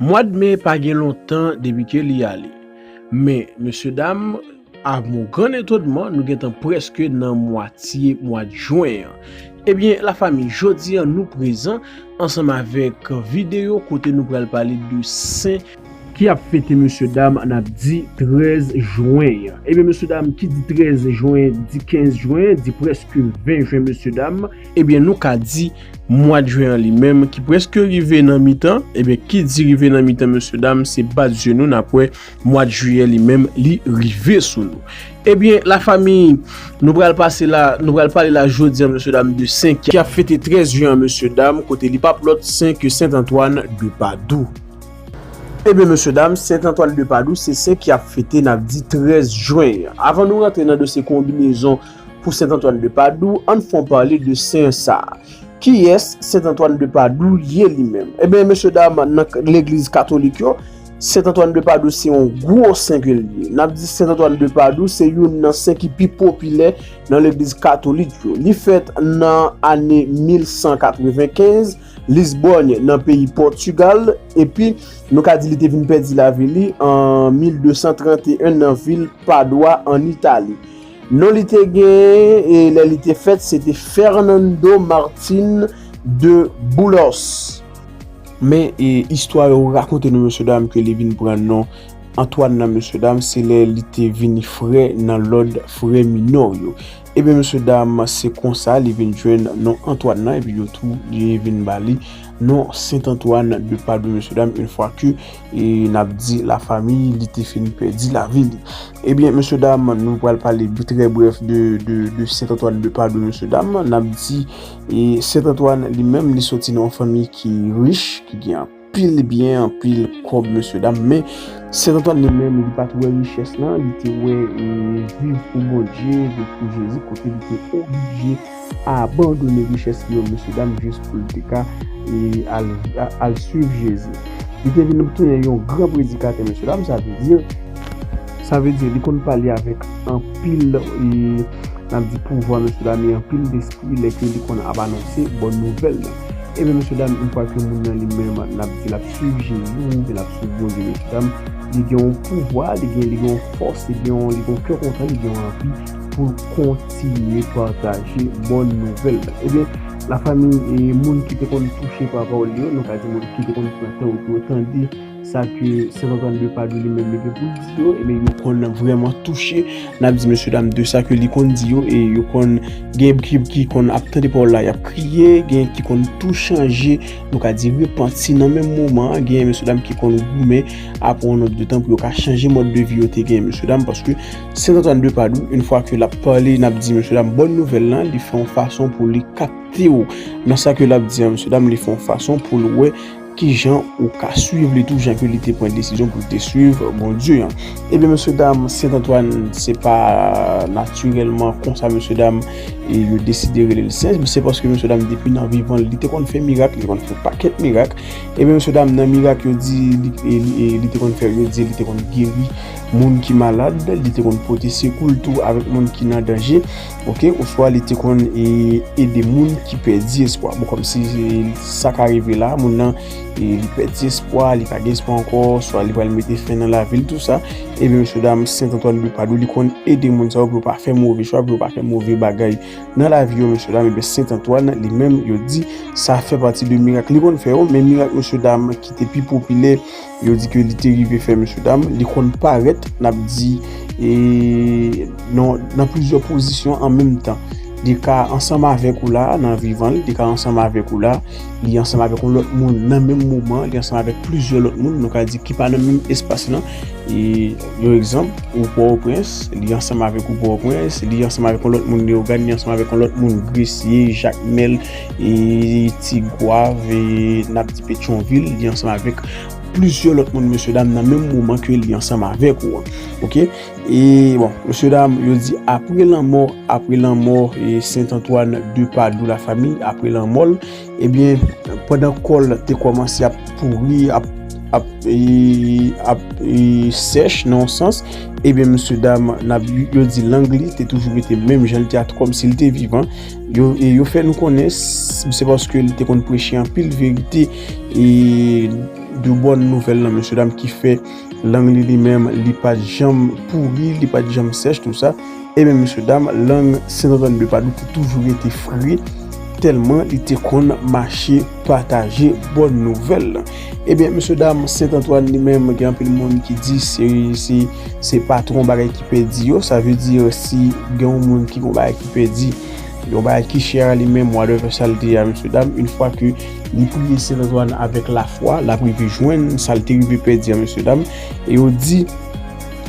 Mwad me pa gen lontan depi ke li ale. Men, mesye dam, a mon gran etonman, nou gentan preske nan mwatye mwad jwen an. Ebyen, la fami, jodi an nou prezan ansanm avèk videyo kote nou pral pale de sen, ki ap fete mesye dam an ap di 13 jwen an. Ebyen, mesye dam, ki di 13 jwen, di 15 jwen, di preske 20 jwen mesye dam. Ebyen nou ka di mwad jwen an li menm ki preske rive nan mitan, ebyen ki di rive nan mitan mesye dam se bat zye nou nap wè mwad jiyè li menm li rive sou nou. Ebyen la fami nou pral pase la, nou pral pale la jodi an mesye dam de sen ki ap fete 13 jwen an mesye dam kote li pap lòt sen ke Sent Antwàn de Padou. Ebyen mesye dam Sent Antwàn de Padou se sen ki ap fete nap di 13 jwen an. Avan nou rantre nan dosye konbinezon Pou Sent Antwàn de Padou, ann fon pale de sen sa. Kiyès Sent Antwàn de Padou ye li menm? Enben, mesye dam, nan legliz katolik yo, Sent Antwàn de Padou se yon gwo sen ke li ye. N ap di Sent Antwàn de Padou se youn nan sen ki pi popilè nan legliz katolik yo. Li fèt nan ane 1195, Lisbonne, nan peyi Pòtigal, epi nou ka di li te vin pèdi lavi li an 1231 nan vil Padwa, ann Itali. Non li te genyen lè li te fèt se te Fernando Martin de Boulos. Men istwa yo rakonte nou mesye dam ke li vin pran non Antoine nan mesye dam se lè li te vini frè nan lòd frè minò yo. Ebyen mesye dam se konsa li vin jwenn non Antoine nan epi yo tou vin ba li non Saint Antoine de Padoue mesye dam in fwa ke E nap di la fami li te fin pèdi lavi li. Ebyen mesye dam nou pral pale trè brèf de Sent Antwàn de Padwe mesye dam. Nap di Sent Antwàn li menm li soti nan yon fanmi ki rich, ki gen anpil byen, anpil kòb mesye dam. Men Sent Antwàn li menm li pat wè richès lan, li te wè viv pou Bondye, viv pou Jezi kote li te oblije. Abandone richès li yo mesye dam jis poul te ka al swiv Jezi. Li te vin tounen yon gran predikatè mesye dam sa vle di sa vle di li konn pale avèk anpil nap di pouvwa mesye dam e anpil despri lè ke li konn ap anonse bòn nouvèl la. Ebyen mesye dam yon fwa ke moun nan li menm nap di lap swiv Jezi ou byen lap swiv Bondye mesye dam li gen yon pouvwa li gen li gen yon fòs li gen yon kè kontan li gen yon anvi. pou l kontinye pataje bòn nouvèl la. Ebyen, lafanmi e moun ki te konn touche pa pawòl li yo, nou ka di moun ki te konn pran tan yo pou yo tande sa ke Sen Antwàn de Padwe li menm li gen pou l di yo, ebyen yo konn vrèman touche, n ap di mesyedam, de sa ke li konn di yo e yo konn gen ki konn ap tande pawòl la y ap kriye, gen ki konn tou chanje, nou ka di repanti nan menm moman an, gen mesyedam ki konn goumen a pran yon nòt de tan pou yo ka chanje mòd de vi yo te gen, mesyedam, paske. Sentantwàn de Padou, yn fwa ke lap pale nap di mesye dam bòn nouvèl lan, li fè yon fason pou li kaptew nan sa ke lap di an mesye dam, li fè yon fason poul wè kijan ou ka swiv li tou jan ke li te pran desizyon poul te swiv Bondye an. Ebyen mesye dam Sentantwàn se pa natirèlman konsa mesye dam yo deside relel Sent, se paske mesye dam depi nan vivan li te konn fè mirak, li te konn fè pakèt mirak, ebyen mesye dam nan mirak yo di li te konn fè yo di li te konn geri moun ki malad, li te konn pote sekou l tou avèk moun ki nan danje, ok, oswa li te konn ede moun ki pèdi espwa. Bon, kòmsi sa ka rive la, moun nan li pèdi espwa, li pa gen espwa ankò, oswa li pral mete fen nan lavi l, tout sa, ebyen, mesye dam, Sent Antwàn de Padwa, li konn ede moun sa yo pou yo pa fè move chwa, pou yo pa fè move bagay nan lavi yo, mesye dam, ebyen, Sent Antwàn, li menm, yo di, sa fè pati de mirak li konn fè yo, men mirak, mesye dam, ki te pi popilè. Yo di ke li te rive fè mesye dam, li konn parèt n ap di nan plizyè pozisyon an menm tan. Li ka ansanm avèk ou la nan vivan li, li ka ansanm avèk ou la, li ansanm avèk yon lòt moun nan menm moman, li ansanm avèk plizyè lòt moun nou ka di ki pa nan menm espas lan. Yon egzanp, ou Pòtoprens, li ansanm avèk ou Pòtoprens, li ansanm avèk yon lòt moun Leyogàn, li ansanm avèk yon lòt moun Gresye, Jakmèl. e ti gwav e nap di petyon vil li ansanm avèk plizyè lòt moun mesye dam nan menm moman ke li ansanm avèk ou ok e bon mesye dam yo di apre lanmò apre lanmò e sent antwàn de padou la fami apre lanmò l ebyen pandan kòl te kòmanse ap pouri ap ap e ap e sèch nan yon sans ebyen mesye dam nap yo di lang li te toujou rete menm jan li te a kòm si li te vivan Yo fè nou konnen se paske li te konn preche anpil verite e de bon nouvèl nan mesye dam ki fè lang li li menm li pa janm pouri, li pa janm sèch tout sa. E men mesye dam lang 132 Padoue te toujou rete fre tèlman li te konn mache. pataje bòn nouvèl lan. Ebyen mesye dam Sent Antwàn li menm gen anpil moun ki di se se patwon bagay ki pèdi yo sa vle di si gen yon moun ki gen yon bagay ki pèdi yon bagay ki chè a li menm wa leve sa l te ye a mesye dam yn fwa ke li priye Sent Antwàn avèk lafwa l ap rive jwenn sa l te rive pèdi a mesye dam e yo di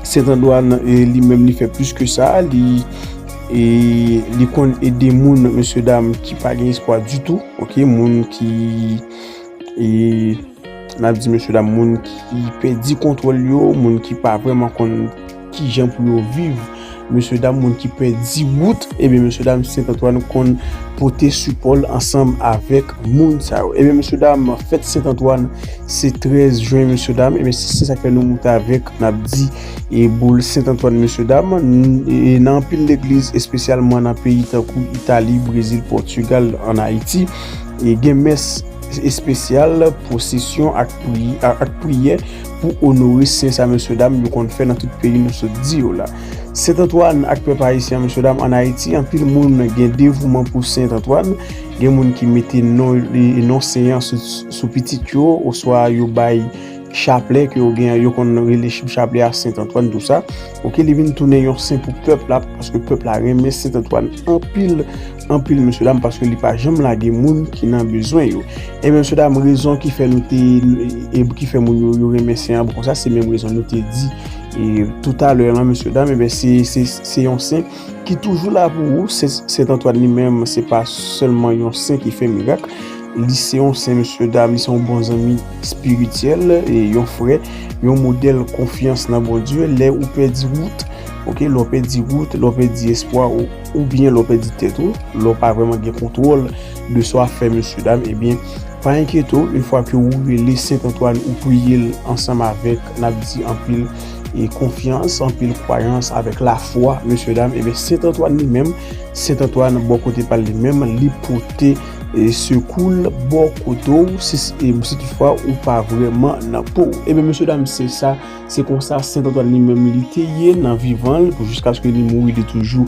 Sent Antwàn li menm li fè plis ke sa li e li konn ede moun mesye dam ki pa gen espwa ditou. Ok moun ki e nap di mesye dam moun ki pedi kontrol yo, moun ki pa vreman kon ki jan pou yo viv, mesye dam moun ki pedi wout, ebe eh mesye dam Saint Antoine kon pote sipol ansanm avek moun sa yo. Ebe eh mesye dam fèt Saint Antoine se 13 jwen mesye dam, ebe eh se sa fè nou moute avek nap di. e boul Sent Antwàn mesye dam e nan anpil legliz espesyalman nan peyi tankou Itali, Brezil, Pòtigal an Ayiti e gen mès espesyal posesyon ak priyè pou onore Sen sa mesye dam yo konn fè nan tout peyi nou sot di yo la. Sent Antwàn ak pèp ayisyen mesye dam an Ayiti anpil moun gen devouman pou Sent Antwàn gen moun ki mete non Sen an sou pitit yo oswa yo bay Chaplè ke yo gen an, yo konn rele chib chaplè a Sent Antwàn tou sa. Ok, li vin tounen yon sen pou pèp la, paske pèp la renmen Sent Antwàn anpil, anpil mesye dam, paske li pa janm lage moun ki nan bezwen yo. E men mesye dam, rezon ki fè nou te, e ki fè moun yo renmen sen an pou konsa, se menm rezon nou te di e toutalè lan mesye dam, e ben se, se, se yon sen. ki toujou la pou ou, Sent Antwàn li menm se pa sèlman yon sen ki fè mirak, li se yon sen mesye dam, li se yon bon zanmi espirityèl, yon frè, yon modèl konfyans nan Bondye, lè ou pèdi wout, ok, lè ou pèdi wout, lè ou pèdi espwa ou, oubyen lè ou pèdi tèt ou, lè ou pa vreman gen kontwòl de sa w ap fè mesye dam, ebyen pa enkyete w, yon fwa ke ou rele Sent Antwàn ou priye l ansanm avèk, n ap di anpil. e konfyans, anpil kwayans avèk lafwa, mesye dam, ebe Sent Antwàn li menm, Sent Antwàn bò kote pal li menm, li pote sekoul bò kote ou, si tout fwa ou pa vreman nan po. Ebe mesye dam, se sa, se konsa Sent Antwàn li menm li te ye nan vivan l, pou jiskaske li mouri li toujou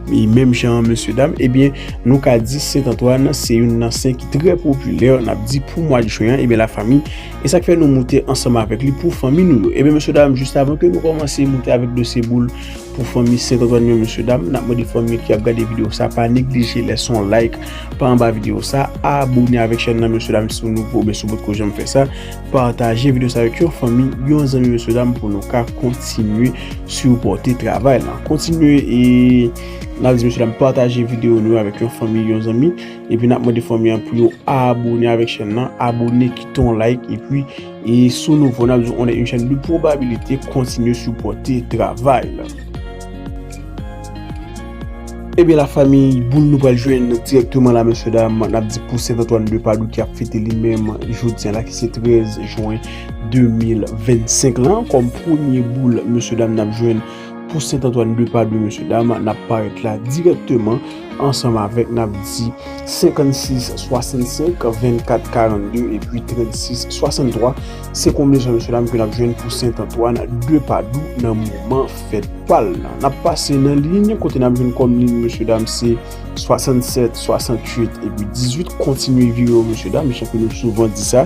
li menm jan an mesye dam, ebe nou ka di Sent Antwàn se youn nan Sen ki trè popilè, nap di pou mwa Jwen an, ebe la fami. E sak fè nou moute ansanm avèk li pou fanmi nou yo. Ebyen mesye dam jis avan ke nou kòmanse moute avèk dosye boul pou fanmi Saint Antoine yo mesye dam, nap mande fanmi ki ap gade video sa pa neglije lèse yon like pa anba video sa, abone avèk chèn nan mesye dam si ou nouvo oubyen si ou potko janm fè sa, pataje video sa avèk yon fanmi, yon zanmi mesye dam pou nou ka kontinye sipòte travay lan. Kontinye e nap di mesye dam pataje video nou yo avèk yon fanmi, yon zanmi. Epi nap mande fanmi an pou yo abone avèk chèn nan, abone kite yon like epi e sou nouvo nap di w on est une chaîne de probabilité kontinye sipòte travay la. Ebyen la fanmi boul nou pral jwenn dirèkteman la mesye dam nap di pou Saint Antoine de Padoue ki ap fete li menm jodi an la ki se 13 juin 2025 lan kòm premye boul mesye dam nap jwenn pou Sent Antwàn de Padwe mesye dam nap parèt la dirèkteman ansanm avèk nap di 56 65 24 42 epi 36 63 se konbinezon mesye dam ke nap jwenn pou Sent Antwàn de Padwe nan moman fèt pal nan nap pase nan liy kote nap jwenn kòm liy mesye dam se 67 68 epi 18 kontinye vire yo mesye dam jan ke nou souvan di sa.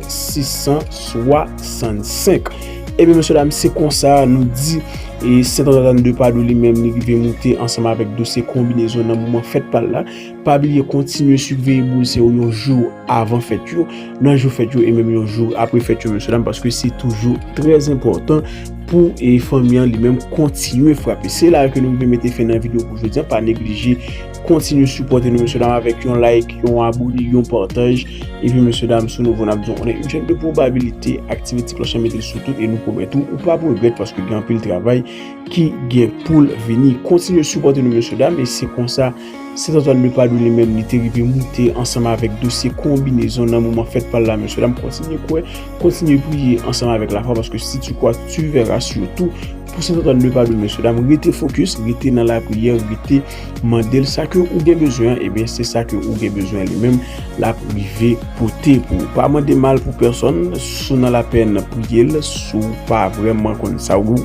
665 Ebyen mesye dam se konsa nou di e Sent Antoine de Padoue li menm li rive moute ansanm avèk dosye konbinezon nan moman fèt pa l la. Pa bliye kontinye siveye boul se yo yon jou avan fèt yo, nan jou fèt yo e menm yon jou apre fèt yo mesye dam paske se toujou trè zenpòtan pou e fanmi an li menm kontinye frape. Se la a ke nou rive mete fen nan videyo pou jodi an pa neglije. Kontinye sipòte nou mesye dam avèk yon like, yon abone, yon pataj. Epi mesye dam si w nouvo n ap di w on est une chaîne de probabilité, aktive ti klòch lan mete l sou tout e nou pwomèt ou ou p ap regrèt paske gen anpil travay ki gen pou l vini. Kontinye sipòte nou mesye dam e se konsa Sent Antwàn de Padwe li menm li te rive moute ansanm avèk dosye konbinezon nan moman fèt pa l la mesye dam kontinye kwè, kontinye priye ansanm avèk lafwa paske si tu crois tu verras sitou pou Sent Antwàn de Padwe mesye dam rete focus, rete nan lapriyè, rete. Mandel sa ke ou gen bezwen an, ebyen se sa ke ou gen bezwen li menm lap rive pote pou ou. Pa mande mal pou pèsòn, si w nan lapèn priye l, si w pa vrèman konn sa ou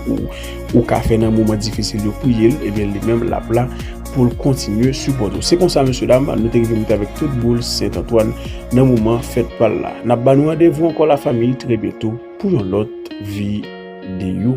ou ka fè nan moman difisil yo priye l, ebyen li menm lap la pou l kontinye sipòte ou. Se konsa mesye dam, nou te rive mete avèk tout boul Sent Antwàn nan moman fèt pa l la. Nap ba nou randevou ankò la fanmi trè byento pou yon lòt videyo.